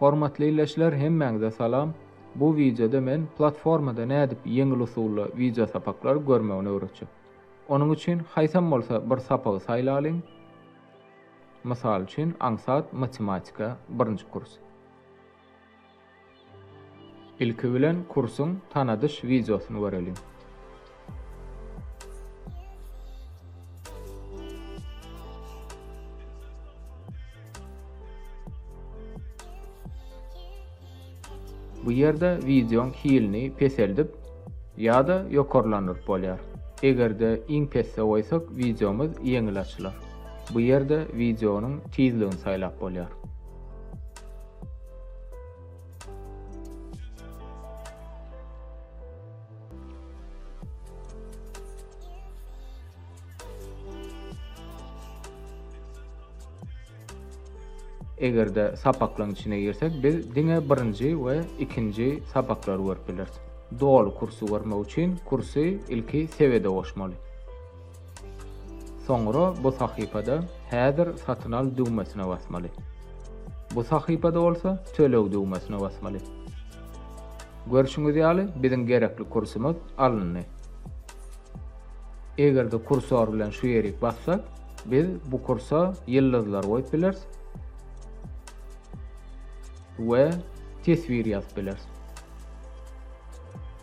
Hormatly ildeşler hemmäňize salam. Bu wideoda men platformada nädip ýeňil usulda wideo sapaklary görmegini öwretjek. Onuň üçin haýsam bolsa bir sapagy saýlalyň. Mysal üçin aňsat matematika birinji kurs. Ilki bilen kursuň tanadyş wideosyny göreliň. Bu ýerde wideoň hilini peseldip ýa-da ýokarlandyryp bolýar. Eger-de iň pesde goýsak wideomyz ýeňil açylar. Bu ýerde wideonyň tizligini saýlap bolýar. Eger-de sapaklaryň içine girsek, biz diňe birinji we ikinji sapaklary görüp bileris. Doly kursy görmek üçin kursy ilki sebede goşmaly. Soňra bu sahypada Häzir satyn al düwmesine basmaly. Bu sahypada bolsa Töleg düwmesine basmaly. Görşüňiz ýaly, biziň gerekli kursumyz alyndy. Eger-de kursor bilen şu ýerik bassak, biz bu kursa ýyldyzlar goýup bileris we teswir ýazyp bileris.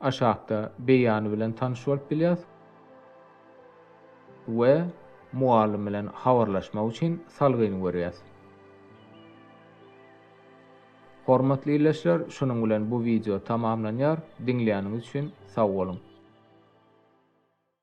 Aşakda beýany bilen tanyş bolup bilýäs we mugallym bilen habarlaşmak üçin salgyny görýäs. Hormatly ildeşler, şunuň bilen bu wideo tamamlanýar. Diňläniňiz üçin sag boluň!